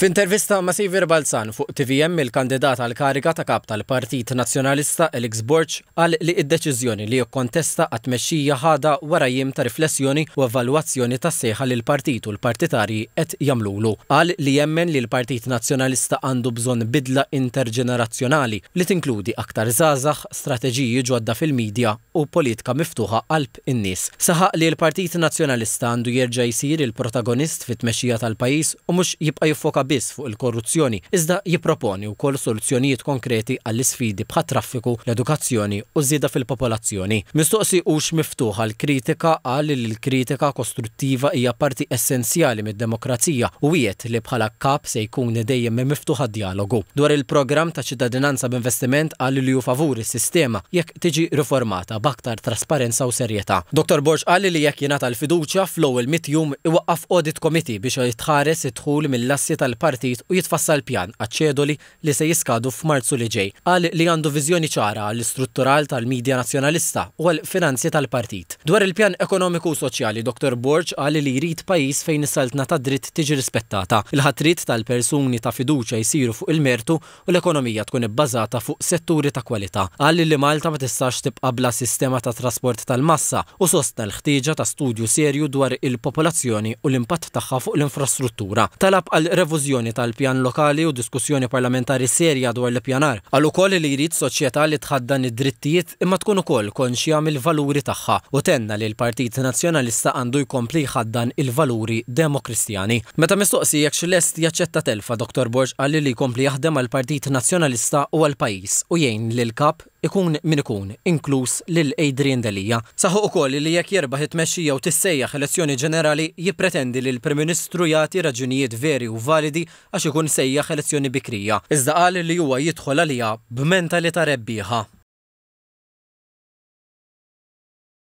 F'intervista ma' Saviour Balzan fuq tvm il-kandidat għall-kariga ta' Kap tal-Partit Nazzjonalista Alex Borg qal li d-deċiżjoni li jikkontesta għat-tmexxija ħadha wara jiem ta' riflessjoni u evalwazzjoni tas-sejħa li l-partit u l-partitarji qed jagħmlulu. Qal li jemmen li l-Partit Nazzjonalista għandu bżonn bidla interġenerazzjonali li tinkludi aktar żgħażagħ, strateġiji ġodda fil-midja, u politika miftuħa qalb in-nies. Saħaq li l-Partit Nazzjonalista għandu jerġa' jsir il-protagonist fit-tmexxija tal-pajjiż u mhux jibqa' jiffoka biss fuq il-korruzzjoni iżda jipproponi wkoll soluzzjonijiet konkreti għall-isfidi bħat-traffiku, l-edukazzjoni u ż-żieda fil-popolazzjoni. Mistoqsi hux miftuħ għall-kritika qal li l-kritika kostruttiva hija parti essenzjali mid-demokrazija u wiegħed li bħala Kap se jkun dejjem miftuħ għad-djalogu. Dwar il-programm ta' ċittadinanza b'investiment qal li hu favur is-sistema jekk tiġi riformata b'aktar trasparenza u serjetà. Dottor Borg qal li jekk jingħata l-fiduċja, fl-ewwel mitt jum iwaqqaf Audit Committee biex jitħares id-dħul mill-assi tal-partit u jitfassal pjan għaċ-ċedoli li se jiskadu f'Marzu li ġej. Qal li għandu viżjoni ċara għall-istruttural tal-Media Nazzjonalista u għall-finanzi tal-partit. Dwar il-pjan ekonomiku u soċjali, Dottor Borg qal li jrid pajjiż fejn is-saltna tad-dritt tiġi rispettata, il-ħatriet tal-persuni ta' fiduċja jsiru fuq il-mertu u l-ekonomija tkun ibbażata fuq setturi ta' kwalità. Qal li Malta ma tistax tibqa' bla sistema ta' trasport tal-massa u sostna l-ħtieġa ta' studju serju dwar il-popolazzjoni u l-impatt tagħha fuq l-infrastruttura. Talab għal revużjoni tal-pjan lokali u diskussjoni parlamentari serja dwar l-ippjanar. Qal ukoll li jrid soċjetà li tħaddan id-drittijiet, imma tkun ukoll konxja mill-valuri tagħha u tenna li l-Partit Nazzjonalista għandu jkompli jħaddan il-valuri Demokristjani. Meta mistoqsi jekk hux lest jaċċetta telfa, Dottor Borg qal li jkompli jaħdem għall-Partit Nazzjonalista u għall-pajjiż u jgħin lill-Kap ikun min ikun, inkluż lil Adrian Delia. Saħaq ukoll li jekk jirbaħ it-tmexxija u tissejjaħ elezzjoni ġenerali, jippretendi li l-Prim Ministru jagħti raġunijiet veri u validi għax ikun sejjaħ elezzjoni bikrija, iżda qal li huwa jidħol għaliha b'mentalità rebbieħa.